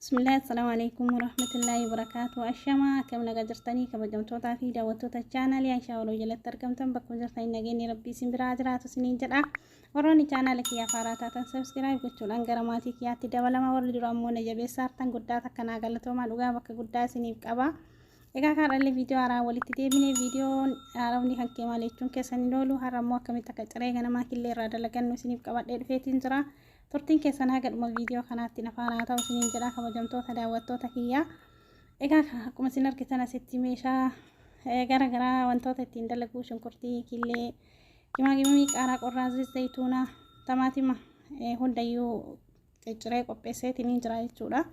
Bismillah, Assalamu alaikum warahmatullahi wabarakatuh. Ashama akkam nagaa jirtanii kabajamtootaa fi daawwattoota chaanaalii Aishaa Waloo jalatti argamtan bakkuma jirtanii nageenyi rabbii isin biraa jiraatu isiniin jedha. Warroonni chaanaala kiyyaa faaraa taatan sabskiraayib gochuudhaan gara maatii kiyyaatti dabalama warri dura ammoo na jabeessaa hartan guddaa takka naa galatoomaa dhugaa bakka guddaa isiniif qaba. Egaa kaadhallee viidiyoo haaraa walitti deebinee viidiyoon haaromni kan kee maal jechuun keessan hin oolu har'a ammoo akkamitti akka ciree ganamaa killee irraa dalagannu isiniif qabadhee dhufeetiin jira. Turtiin keessan haga dhuma viidiyoo kanaatti na faana haa ta'u isiniin jedha kabajamtoota daawwattoota kiyyaa. Egaa akkuma isin argitan asitti meeshaa eh, gara garaa wantoota ittiin dalaguu shunkurtii, killee, gimaagimii, qaaraa qorraa, zayit zayituunaa, tamaatima eh, hundayyuu cicciree qopheesseetiniin jira jechuudha.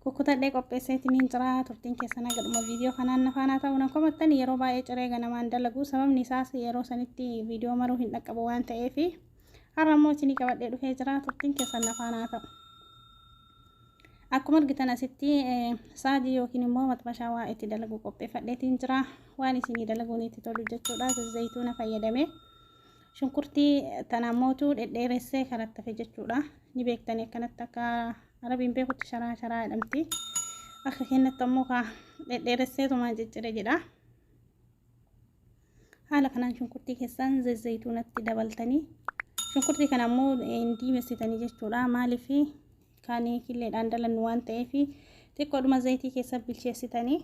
Kukkutadhee qopheesseetiniin jira turtiin keessan haga dhuma viidiyoo kanaan na faana haa ta'u nan komattan yeroo baay'ee ciree ganamaan dalaguu sababni isaas yeroo sanitti viidiyoo maruu hin dhaqqabu waan ta'eefi. Har'a immoo isinii qabadhee dhufee jira turtiin keessan nafaan haa ta'u. Akkuma argitan asitti saajii yookiin immoo maxxashaa waa itti dalaguu qopheeffadheetiin jira. Waan isinii dalaguun itti tolu jechuudha. Zayituuna fayyadame. Shunkurtii tana mootu dhedheeressee karattafe jechuudha. Ni beektanii akkanatti akka arabiin beekutti sharaa sharaa jedhamti. Akka kennatti ammoo kaa dhedheeresseetumaan ciccire jedha. Haala kanaan shunkurtii keessaan zayituunatti dabaltanii shunkurtii kana ammoo hin diimessitanii jechuudha. Maaliif kan killeedhaan dalannu waan ta'eef xiqqoodhuma zayitii keessa bilcheessitanii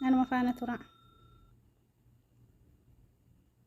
anuma faana tura.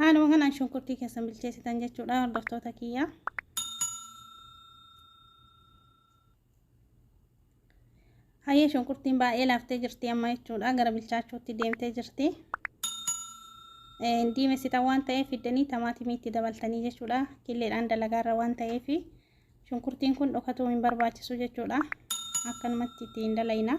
Haaluma kanaan shunkurtii keessan bilcheessitan jechuudha hordoftoota kiyyaa. Hayyee shunkurtiin baay'ee laaftee jirti amma jechuudha gara bilchaachuutti deemtee jirti. Diimessitan waan ta'eef fiddanii tamaatimii itti dabaltanii jechuudha qilleedhaan dalagaarra waan ta'eef shunkurtiin kun dhokatuu hin barbaachisu jechuudha akkanumatti itti hin dalayna.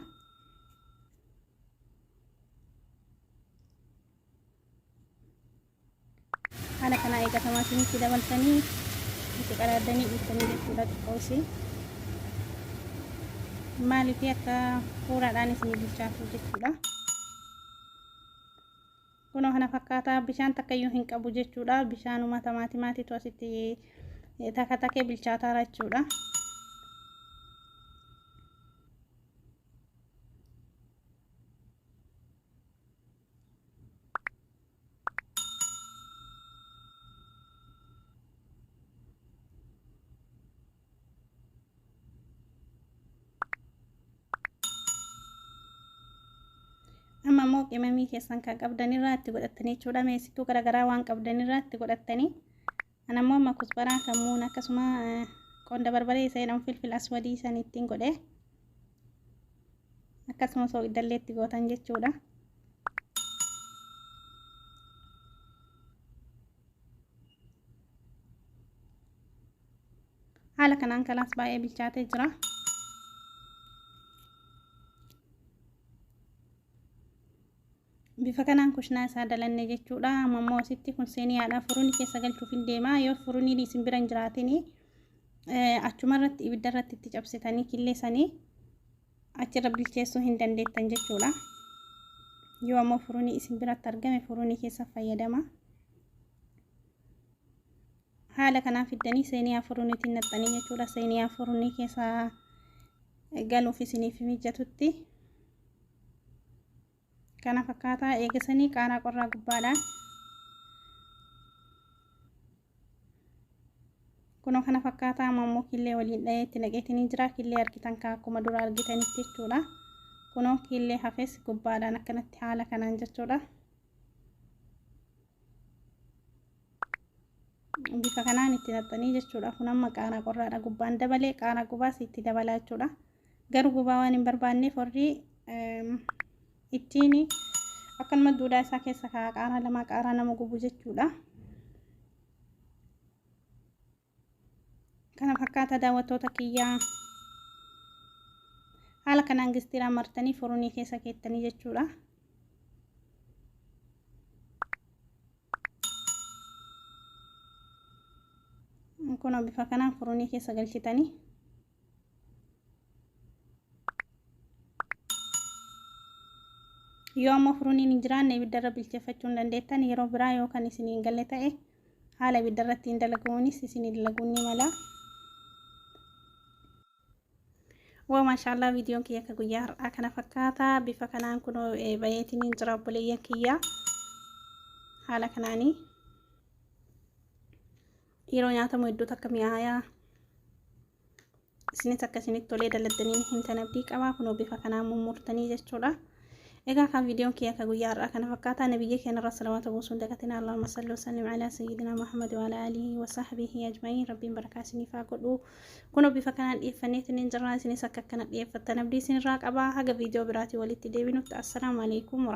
haala kanaa eegatamaa isinitti dabaltanii itti qaraaddanii dhiiftanii jechuudha xiqqoosi maaliif akka fuuraadhaan isinii bilchaatu jechuudha kunoo kana fakkaataa bishaan takkayyuu hin qabu jechuudha bishaanuma tamaatimaatiitu asitti takka takkee bilchaataara jechuudha amma immoo qimamii keessan kan qabdan irraa itti godhattanii jechuudha meessituu garaagaraa waan qabdan irraa itti godhattanii An ammoo amma kusbaraa, kammuun akkasuma qonda barbaree isa jedhamu filfil aswadii san ittiin godhe. Akkasuma sooqiddallee itti gootan jechuudha. Haala kanaan kalaas baay'ee bilchaatee jira. Bifa kanaan kushnaa isaa dalanne jechuudha. Amma immoo asitti kun seeniyaadha. Furunii keessa galchuuf hin deema. Yoo furuniin isin bira hin jiraatin achuma irratti ibidda irratti itti cabsitanii killeessanii achirra bilcheessuu hin dandeettan jechuudha. Yoo ammoo furunii isin biratti argame furunii keessa fayyadama. Haala kanaan fiddanii seeniyaa furuniitiin naqxanii jechuudha. Seeniyaa furunii keessa galuuf isiniif mijatutti. kana fakkaataa eegasanii qaaraa qorraa gubbaadha kuno kana fakkaataa amma immoo killee waliin dha'ee itti naqeetinii jira killee argitan kaa akkuma dura argitanitti jechuudha kuno killee hafes gubbaadhaan akkanatti haala kanaan jechuudha bifa kanaan itti naqxanii jechuudha kun amma qaaraa qorraadha gubbaan dabalee qaaraa gubaas itti dabalaa jechuudha garuu gubaa waan hin barbaanneef warri ittiin akkanuma duudhaa isaa keessa kaa qaaraa lama qaaraa nama gubu jechuudha kana fakkaata daawwattoota kiyyaa haala kanaan gistiraa martanii furunii keessa keettanii jechuudha kun bifa kanaan furunii keessa galchitanii yoo ammoo furuuniin hin jiraanne ibiddarra bilcheeffachuu hin dandeettan yeroo biraa yoo kan isin hin galle ta'e haala ibiddarratti hin dalaguunis isin hin dalaguun ni mala. Waa maashaallah viidiyoon kiyya akka guyyaa har'aa kana fakkaata bifa kanaan kun bayeetiin hin jira obboleeyyan kiyya haala kanaanii. Yeroo nyaatamu hedduu takka mi'aayaa. Isinis akka isinitti tolee daladdanii ni himtan abdii qabaa kunoo bifa kanaan mummurtanii jechuudha. Egaa kan viidiyoon kiyya akka guyyaa har'aa kana fakkaataa nabiyya keenyarra salawaata buusuun dagatina Allahumma salli wasallim ala sayyidina Muhammad wa ala alihi wa sahbihi ajma'iin rabbiin barakaa isiniif haa godhu. Kunoo bifa kanaan dhiyeeffanneetiin hin jirraa isinis akka akkana dhiyeeffattan abdii isinirraa qabaa haga viidiyoo biraatii walitti deebinutti assalaamu alaikum wa